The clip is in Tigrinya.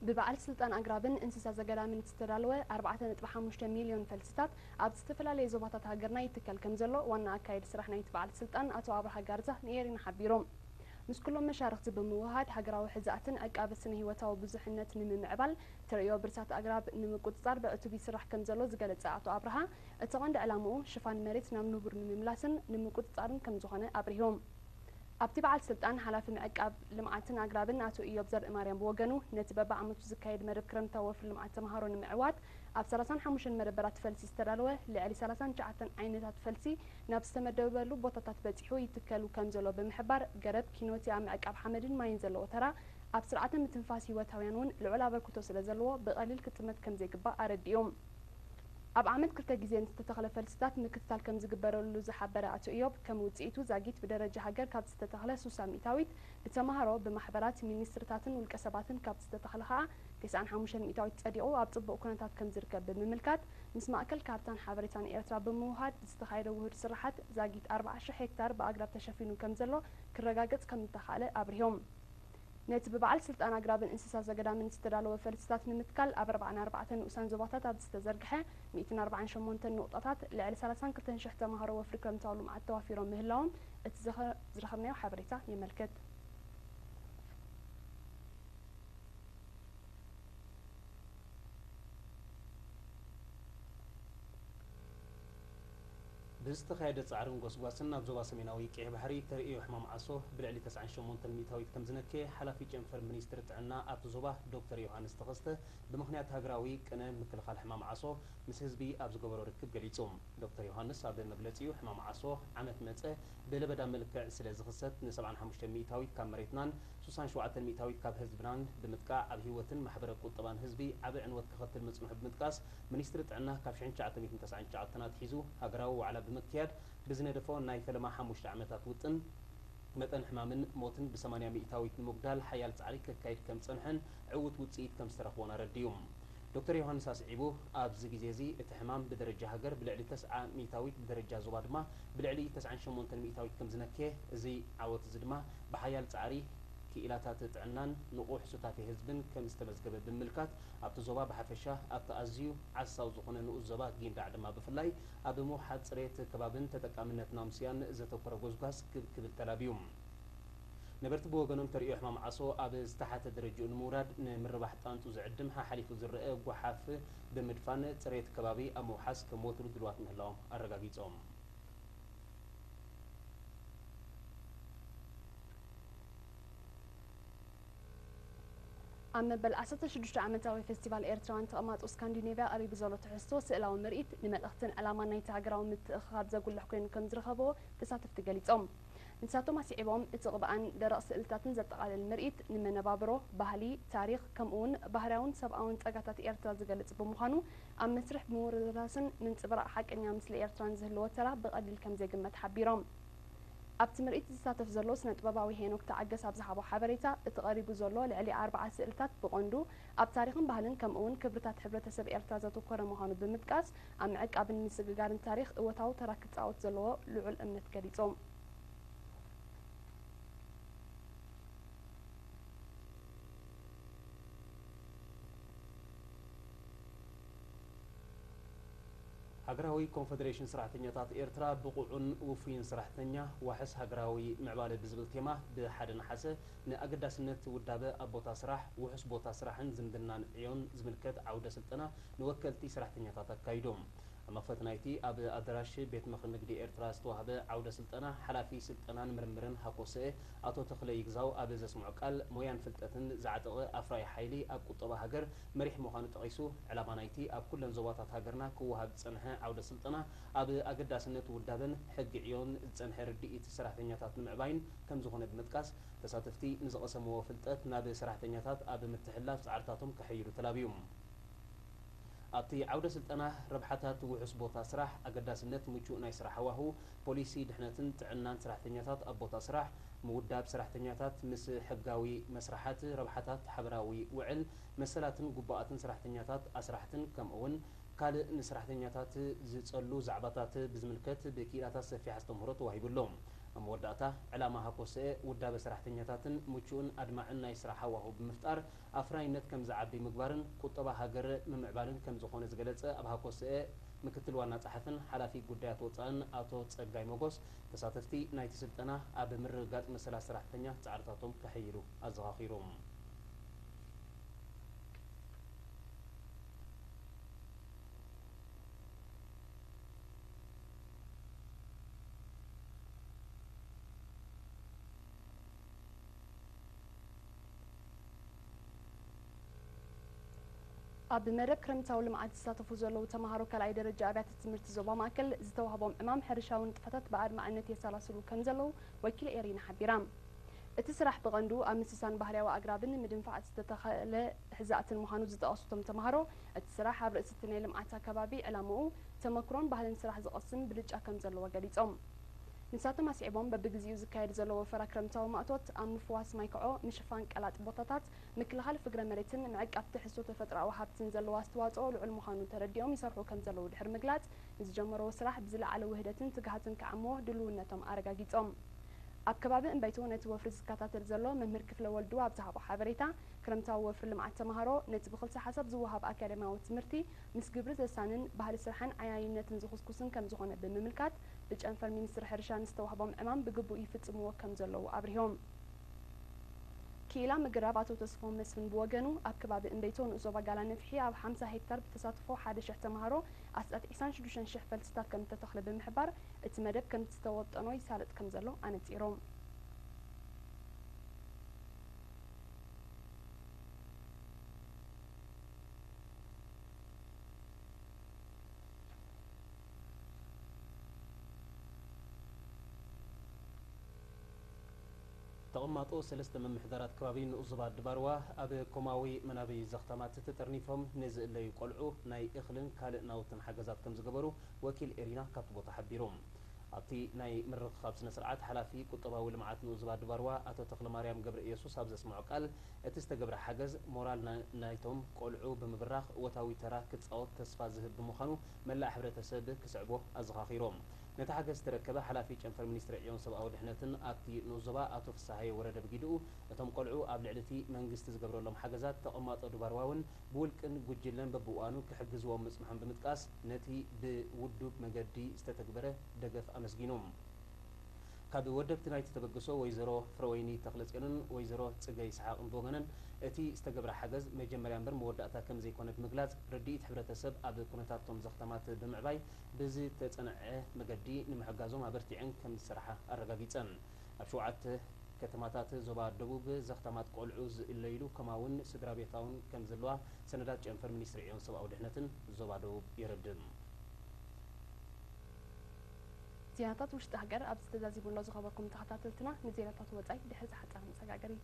ብበዓል ስልጣን ኣግራብን እንስሳ ዘገዳምን ዝተዳለወ ኣርባዕተ ነጥቢ ሓሙሽተ ሚልዮን ፈልስታት ኣብ ዝተፈላለየ ዞባታት ሃገርና ይትከል ከም ዘሎ ዋና ኣካየዲ ስራሕ ናይቲ በዓል ስልጣን ኣቶ ኣብርሃ ጋርዛ ንኤሪና ሓቢሮም። ምስ ኩሎም መሻርኽቲ ብምውህሃድ ሃገራዊ ሕዛእትን ዕቃበ ስነ ህይወታዊ ብዙሕነት ንምምዕባል ተርእዮ ብርሳት ኣግራብ ንምቁጽጻር ብዕቱብ ይስራሕ ከም ዘሎ ዝገለጸ ኣቶ ኣብርሃ እቲ ቀንዲ ዕላምኡ ሽፋን መሬት ናብ ንቡር ንምምላስን ንምቁጽጻርን ከም ዝኾነ ኣብሪሆም። ኣብቲ በዓል ስልጣን ሓላፊ ምዕቃብ ልምዓትን ኣግራብን ኣቶ ኢዮብ ዘርእማርያም ብወገኑ ነቲ በቢዓመቱ ዝካየድ መደብ ክረምታዊ ወፍሪ ልምዓት ተምሃሮ ንምዕዋት ኣብ ሰላሳን ሓሙሽተን መደበራት ፈልሲ ዝተዳለወ ልዕሊ ሰላሳን ትሽዓተን ዓይነታት ፈልሲ ናብ ዝተመደበበሉ ቦታታት በፂሑ ይትከሉ ከምዘሎ ብምሕባር ገረብ ኪኖቲ ኣብ ምዕቃብ ሓመድን ማይን ዘለዎ ተራ ኣብ ስርዓተ ምትንፋስ ህይወታውያን እውን ልዑል ኣበርክቶ ስለዘለዎ ብቐሊል ክጥመት ከምዘይግባእ ኣረዲኡ። ኣብ ዓመት ክልተ ግዜ ንዝተተኽለ ፈልስታት ምክትታል ከምዝግበረሉ ዝሓበረ ኣቶ እዮብ፣ ከም ውጽኢቱ ዛጊት ብደረጃ ሃገር ካብ ዝተተኽለ ሱሳ ሚእታዊት፣ ብተማሃሮ፣ ብማሕበራት፣ ሚኒስትሪታትን ውልቀሰባትን ካብ ዝተተኽለ ከኣ ተስዓን ሓሙሽተን ሚእታዊት ጸዲቑ ኣብ ጽቡቕ ኩነታት ከምዝርከብ ብምምልካት ምስ ማእከል ካርታን ሓበሬታን ኤርትራ ብምውህሃድ ብዝተኻየደ ውሁድ ስርሓት ዛጊት ኣርብዓ ሽሕ ሄክታር ብኣግራብ ተሸፊኑ ከምዘሎ ክረጋገጽ ከምእተኻእለ ኣብሪሆም። ነቲ ብበዓል ስልጣን ኣግራብን እንስሳ ዘገዳምን ዝተዳለወ ፈልስታት ንምትካል ኣብ ኣርብዓን ኣርባዕተን ንኡሳን ዞባታት ኣብ ዝተዘርግሐ ሚእትን ኣርብዓን ሸሞንተን ንቑጣታት ልዕሊ ሰላሳን ክልተን ሽሕ ተማሃሮ ወፍሪ ክረምታዊ ልምዓት ተዋፊሮም ምህላዎም እቲ ዝረኸብናዮ ሓበሬታ የመልክት። ብዝተኻየደ ጻዕርን ጎስጓስን ኣብ ዞባ ሰሜናዊ ቀይሕ ባሕሪ እተርእዮ ሕማም ዓሶ ብልዕሊ ተስዓን ሸሞንተን ሚእታዊት ከምዝነከየ ሓላፊ ጨንፈር ሚኒስትሪ ጥዕና ኣብቲ ዞባ ዶክተር ዮውሃንስ ተኸስተ ብምኽንያት ሃገራዊ ቅነ ምክልኻል ሕማም ዓሶ ምስ ህዝቢ ኣብ ዝገበሮ ርክብ ገሊጹ። ዶክተር ዮውሃንስ ኣብ መግለጺኡ ሕማም ዓሶ ዓመት መጸ ብለበዳ መልክዕ ስለዝኽሰት ንሰብዓን ሓሙሽተን ሚእታዊት ካብ መሬትናን ሱሳን ሸውዓተን ሚእታዊት ካብ ህዝብናን ብምጥቃዕ ኣብ ህይወትን ማሕበረ ቁጠባን ህዝቢ ዓቢ ዕንወት ከኸትል ምጽንሑ ብምጥቃስ ሚኒስትሪ ጥዕና ካብ ሽሕን ትሽዓተ ሚእትን ተስዓን ትሽዓተን ኣትሒዙ ሃገራዊ ዋዕላ ብምክያድ ብዝነደፎ ናይ ፈለማ ሓሙሽተ ዓመታት ውጥን፣ መጠን ሕማምን ሞትን ብሰማንያ ሚኢታዊት ንምጉዳል ሓያል ጻዕሪ ከካይድ ከም ዝጸንሐን ዕዉት ውጽኢት ከም ዝተረኽቦን ኣረዲኡ። ዶክተር ዮሃንስ ኣስዒቡ፣ ኣብዚ ግዜ'ዚ እቲ ሕማም ብደረጃ ሃገር ብልዕሊ ተስዓ ሚኢታዊት ብደረጃ ዞባ ድማ ብልዕሊ ተስዓን ሸሞንተን ሚኢታዊት ከም ዝነከየ፣ እዚ ዓወት'ዚ ድማ ብሓያል ጻዕሪ ክኢላታት ጥዕናን ንቑሕ ሱታፌ ህዝብን ከም ዝተመዝገበ ብምምልካት፣ ኣብቲ ዞባ ብሓፈሻ ኣብቲ ኣዝዩ ዓሳው ዝኾነ ንኡስ ዞባ ጊንዳዕ ድማ ብፍላይ ኣብ ምውሓጥ ጽሬት ከባብን ተጠቃምነት ናምስያን ዘተኮረ ጎስጓስ ክብ ክብል ተላብዩ። ነበርቲ ብወገኖም ተርእዮ ሕማም ዓሶ ኣብ ዝተሓተ ደረጅኡ ንምውራድ ንምርባሕ ጣንጡ ዝዕድም ሓሓሊፉ ዝረኣ ጎሓፍ ብምድፋን ጽሬት ከባቢ ኣብ ምውሓስ ከም ወትሩ ድልዋት ምህላዎም ኣረጋጊጾም። ኣብ መበል ዓሰርተ ሽዱሽተ ዓመታዊ ፌስቲቫል ኤርትራውያን ተቐማጦ ስካንዲኔቭያ ቀሪቡ ዘሎ ትሕዝቶ ስእላዊ ምርኢት ንመልእኽትን ዕላማን ናይቲ ሃገራዊ ምትእኽኻብ ዘጉልሕ ኮይኑ ከምዝረኸብዎ ተሳተፍቲ ገሊጾም። ንሳቶም ኣስዒቦም፣ እቲ ቅብኣን ደረቕ ስእልታትን ዘጠቓልል ምርኢት፣ ንመነባብሮ፣ ባህሊ፣ ታሪኽ፣ ከምኡ'ውን ባህርያውን ሰብኣውን ጸጋታት ኤርትራ ዝገልጽ ብምዃኑ፣ ኣብ መስርሕ ምውርርራስን ምንጽብራቕ ሓቀኛ ምስሊ ኤርትራን ዝህልዎ ተራ ብቐሊል ከምዘይግመት ሓቢሮም። ኣብቲ ምርኢት ዝሳተፍ ዘሎ ስነጥበባዊ ሄኖክ ተዓገስ ኣብ ዝሃቦ ሓበሬታ፣ እቲ ቀሪቡ ዘሎ ልዕሊ ኣርብዓ ስእልታት ብቐንዱ ኣብ ታሪኽን ባህልን ከምኡ'ውን ክብርታት ሕብረተሰብ ኤርትራ ዘተኮረ ምዃኑ ብምጥቃስ፣ ኣብ ምዕቃብን ምስግጋርን ታሪኽ እወታዊ ተራ ክጻወት ዘለዎ ልዑል እምነት ገሊጾም። ሃገራዊ ኮንፈደሬሽን ሰራሕተኛታት ኤርትራ ብቑዑን ውፉይን ሰራሕተኛ፣ ዋሕስ ሃገራዊ ምዕባለ ብዝብል ቴማ ብ ሓደ ነሓሰ ን ኣገዳስነት ውዳበ ኣብ ቦታ ስራሕ፣ ውሑስ ቦታ ስራሕን ዝምድናን ዕዮን ዝምልከት ዓውደ ስልጠና ንወከልቲ ሰራሕተኛታት ኣካይዱ። ኣብ መኽፈቲ ናይቲ ኣብ ኣደራሽ ቤት ምኽሪ ንግዲ ኤርትራ ዝተዋህበ ዓውደ ስልጠና ሓላፊ ስልጠናን ምርምርን ሃኮሰኤ ኣቶ ተኽለ ይግዛው ኣብ ዘስምዖ ቃል ሞያን ፍልጠትን ዝዓጠቐ ኣፍራዪ ሓይሊ ኣብ ቁጠባ ሃገር መሪሕ ምዃኑ ጠቒሱ፣ ዕላማ ናይቲ ኣብ ኩለን ዞባታት ሃገርና ክወሃብ ዝጸንሐ ዓውደ ስልጠና፣ ኣብ ኣገዳስነት ውዳበን ሕጊ ዕዮን ዝጸንሐ ርድኢት ሰራሕተኛታት ንምዕባይን ከምዝኾነ ብምጥቃስ፣ ተሳተፍቲ ንዝቐሰምዎ ፍልጠት ናብ ሰራሕተኛታት ኣብ ምትሕልላፍ ጻዕርታቶም ከሐይሉ ተላብዩ። ኣብቲ ዓውደ ስልጠና፣ ረብሓታት ውሑስ ቦታ ስራሕ፣ ኣገዳስነት ምቹእ ናይ ስራሕ ሃዋህው፣ ፖሊሲ ድሕነትን ጥዕናን ሰራሕተኛታት ኣብ ቦታ ስራሕ፣ ምውዳብ ሰራሕተኛታት ምስ ሕጋዊ መስርሓት፣ ረብሓታት ሓበራዊ ውዕል፣ መሰላትን ግቡኣትን ሰራሕተኛታት ኣስራሕትን ከምኡ'ውን ካልእ ንሰራሕተኛታት ዝጸሉ ዛዕባታት ብዝምልከት ብክኢላታት ሰፊሕ ኣስተምህሮ ተዋሂቡ ኣሎ። ኣብ መወዳእታ፣ ዕላማ ሃኮሰኤ ውዳበ ሰራሕተኛታትን ምቹእን ኣድማዕን ናይ ስራሕ ሃዋሁ ብምፍጣር፣ ኣፍራይነት ከም ዝዓቢ ምግባርን ቁጠባ ሃገር ምምዕባልን ከም ዝኾነ ዝገለጸ ኣብ ሃኮሰኤ ምክትል ዋና ጸሓፍን ሓላፊ ጉዳያት ወጻእን ኣቶ ጸጋይ ሞጎስ፣ ተሳተፍቲ ናይቲ ስልጠና ኣብ ምርግጋጽ መሰላት ሰራሕተኛ ጻዕርታቶም ከሐይሉ ኣዘኻኺሩ። ኣብ መደብ ክረምታዊ ልምዓት ዝሳተፉ ዘለዉ ተምሃሮ ካልኣይ ደረጃ ኣብያተ ትምህርቲ ዞባ ማእከል ዝተዋህቦም ዕማም ሕርሻዊ ንጥፈታት ብኣድማዕነት የሰላስሉ ከም ዘለዉ ወኪል ኤሪና ሓቢራ። እቲ ስራሕ ብቐንዱ ኣብ ምስሳን ባህርያዊ ኣግራብን ምድንፋዕ ዝተተኸለ ሕዛእትን ምዃኑ ዝጠቐሱ እቶም ተምሃሮ፣ እቲ ስራሕ ኣብ ርእሲ'ቲ ናይ ልምዓት ኣከባቢ ዕላምኡ፣ ተመክሮን ባህልን ስራሕ ዝቐስም ብልጫ ከም ዘለዎ ገሊጾም። ንሳቶም ኣስዒቦም፣ በብግዜኡ ዝካየድ ዘሎ ወፈራ ክረምታዊ ማእቶት፣ ኣብ ምፍዋስ ማይ ክዖ፣ ምሽፋን ቀላጥ ቦታታት፣ ምክልኻል ፍግረ መሬትን ምዕቃብ ትሕዝቶ ተፈጥሮኣዊ ሃብትን ዘለዎ ኣስተዋጽኦ ልዑል ምዃኑ ተረዲኦም ይሰርሑ ከምዘለዉ ድሕሪ ምግላጽ፣ ንዝጀመርዎ ስራሕ ብዝለዓለ ውህደትን ትግሃትን ክዓምዎ ድሉውነቶም ኣረጋጊጾም። ኣብ ከባቢ እምበይቶ ነቲ ወፍሪ ዝከታተል ዘሎ መምህር ክፍለ ወልዱ ኣብ ዝሃቦ ሓበሬታ፣ ክረምታዊ ወፍሪ ልምዓት ተመሃሮ፣ ነቲ ብክልሰ ሓሳብ ዝወሃብ ኣካደምያዊ ትምህርቲ ምስ ግብሪ ዘሳንን ባህሊ ስራሕን ዓያይነትን ዝኹስኩስን ከምዝኾነ ብምምልካት፣ ብጨንፈር ሚኒስትሪ ሕርሻ ንዝተዋህቦም ዕማም ብግቡእ ይፍፅምዎ ከም ዘለዉ ኣብሪሆም። ክኢላ ምግራብ ኣቶ ተስፎም መስፍን ብወገኑ፣ ኣብ ከባቢ እምበይቶ ንኡስ ዞባ ጋላነፍሒ ኣብ ሓምሳ ሄክታር ብተሳትፎ ሓደ ሽሕ ተምሃሮ ኣስታት ዒስራን ሽዱሽተን ሽሕ ፈልስታት ከም እተተኽለ ብምሕባር፣ እቲ መደብ ከምቲ ዝተወጠኖ ይሳለጥ ከም ዘሎ ኣነፂሮም። ተቐማጦ ሰለስተ ምምሕዳራት ከባቢ ንኡስ ዞባ ኣዲባርዋ ኣብ ኮማዊ መናበዪ ዘኽታማት ተጠርኒፎም ንዝእለዩ ቆልዑ ናይ እኽልን ካልእ ናውትን ሓገዛት ከምዝገበሩ ወኪል ኤሪና ካብቲ ቦታ ሓቢሩ። ኣብቲ ናይ ምርኽኻብ ስነ-ስርዓት ሓላፊ ቁጠባዊ ልምዓት ንኡስ ዞባ ኣዲባርዋ ኣቶ ተኽለማርያም ገብረእየሱስ ኣብ ዘስመዖ ቃል እቲ ዝተገብረ ሓገዝ ሞራል ናይቶም ቆልዑ ብምብራኽ እወታዊ ተራ ክጻወት ተስፋ ዝህብ ብምዃኑ መላእ ሕብረተሰብ ክስዕቦ ኣዘኻኺሮም። ነቲ ሓገዝ ዝተረከበ ሓላፊ ጨንፈር ሚኒስትሪ ዕዮን ሰብኣዊ ድሕነትን ኣብቲ ንኡስ ዞባ ኣቶ ፍስሃየ ወረደ ብጊድኡ፣ እቶም ቆልዑ ኣብ ልዕሊ እቲ መንግስቲ ዝገብረሎም ሓገዛት ተቐማጦ ድባርዋውን ብውልቅን ጉጅለን በብእዋኑ ክሕግዝዎም ምጽንሖም ብምጥቃስ ነቲ ብውዱብ መገዲ ዝተተግበረ ደገፍ ኣመስጊኑ። ካብ ወደብቲ ናይቲ ተበግሶ ወይዘሮ ፍረወይኒ ተኽለጽዮንን ወይዘሮ ጽገ ይስሓቕን ብወገነን እቲ ዝተገብረ ሓገዝ መጀመርያ እምበር መወዳእታ ከምዘይኮነ ብምግላጽ ርድኢት ሕብረተሰብ ኣብ ኩነታት'ቶም ዘኽተማት ብምዕባይ ብዝተጸንዐ መገዲ ንምሕጋዞም ኣበርቲዐን ከምዝሰርሓ ኣረጋጊጸን። ኣብ ሸውዓተ ከተማታት ዞባ ደቡብ ዘኽተማት ቆልዑ ዝእለይሉ ከማውን ስድራቤታውን ከምዘለዋ ሰነዳት ጨንፈር ሚኒስትሪ ዕዮን ሰብኣዊ ድሕነትን ዞባ ደቡብ የረድእ። ዜናታት ውሽጢ ሃገር ኣብዚ ተዛዚሙ ኣሎ ዝኸበርኩም ተኸታተልትና ንዜናታት ወጻኢ ድሕሪ ዝሓጸረ መሰጋገሪት።